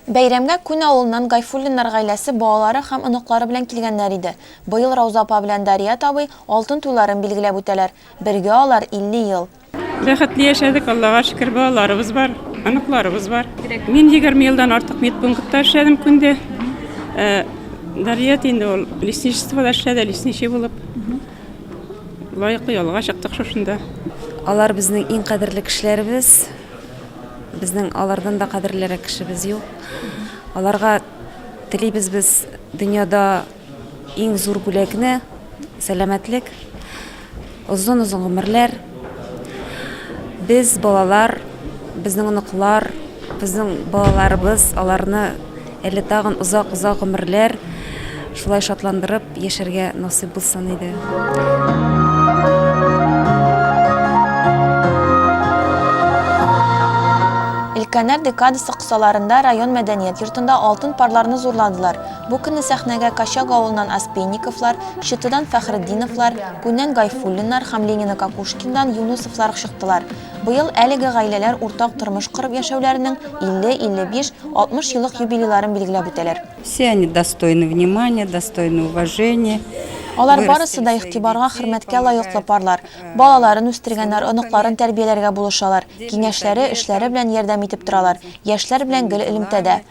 Бәйрәмгә Күн авылыннан Гайфуллиннар гаиләсе балалары һәм оныклары белән килгәннәр иде. Быел Рауза апа белән Дарият абый алтын туйларын билгеләп үтәләр. Бергә алар 50 ел. Бәхетле яшәдек, Аллага шөкер, балаларыбыз бар, оныкларыбыз бар. Мин егерме елдан артык медпунктта эшләдем Күндә. Ә Дарият инде ул лесничествода эшләде, лесничий булып. Лаеклы ялга чыктык шушында. Алар безнең иң кадерле кешеләребез. Безнең алардан да кадерлерәк кешебез юк. Аларга телибез без дөньяда иң зур бүләкне, сәламәтлек, озын-озын гомерләр. Без балалар, безнең оныклар, безнең балаларыбыз аларны Әле тагын озак-озак гомерләр шулай шатландырып яшәргә насыйп булсын иде. Өлкәннәр декадасы кысаларында район мәдәният йортында алтын парларны зурладылар. Бу көнне сәхнәгә Качак авылыннан Аспенниковлар, Чытыдан Фәхретдиновлар, Күннән Гайфуллиннар һәм Ленина-Кокушкиндан Юнусовлар чыктылар. Быел әлеге гаиләләр уртак тормыш корып яшәүләренең 50, 55, 60 еллык юбилейларын билгеләп үтәләр. Все они достойны внимания, достойны уважения. Алар барысы да игътибарга, хөрмәткә лаеклы парлар. Балаларын үстергәннәр, оныкларын тәрбияләргә булышалар, киңәшләре, эшләре белән ярдәм итеп торалар. Яшьләр белән гел элемтәдә.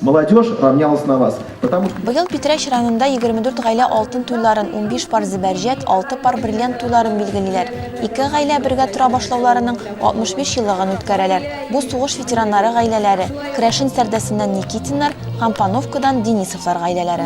Молодежь равнялась на вас, потому что. Быел Питрәч районында 24 гаилә алтын туйларын, унбиш пар зөбәрҗәт, алты пар бриллиант туйларын билгелиләр. Ике гаилә бергә тора башлауларының 65 еллыгын үткәрәләр. Бу сугыш ветераннары гаиләләре, Крәшен Сәрдәсеннән Никитиннар һәм Пановкадан Денисовлар гаиләләре.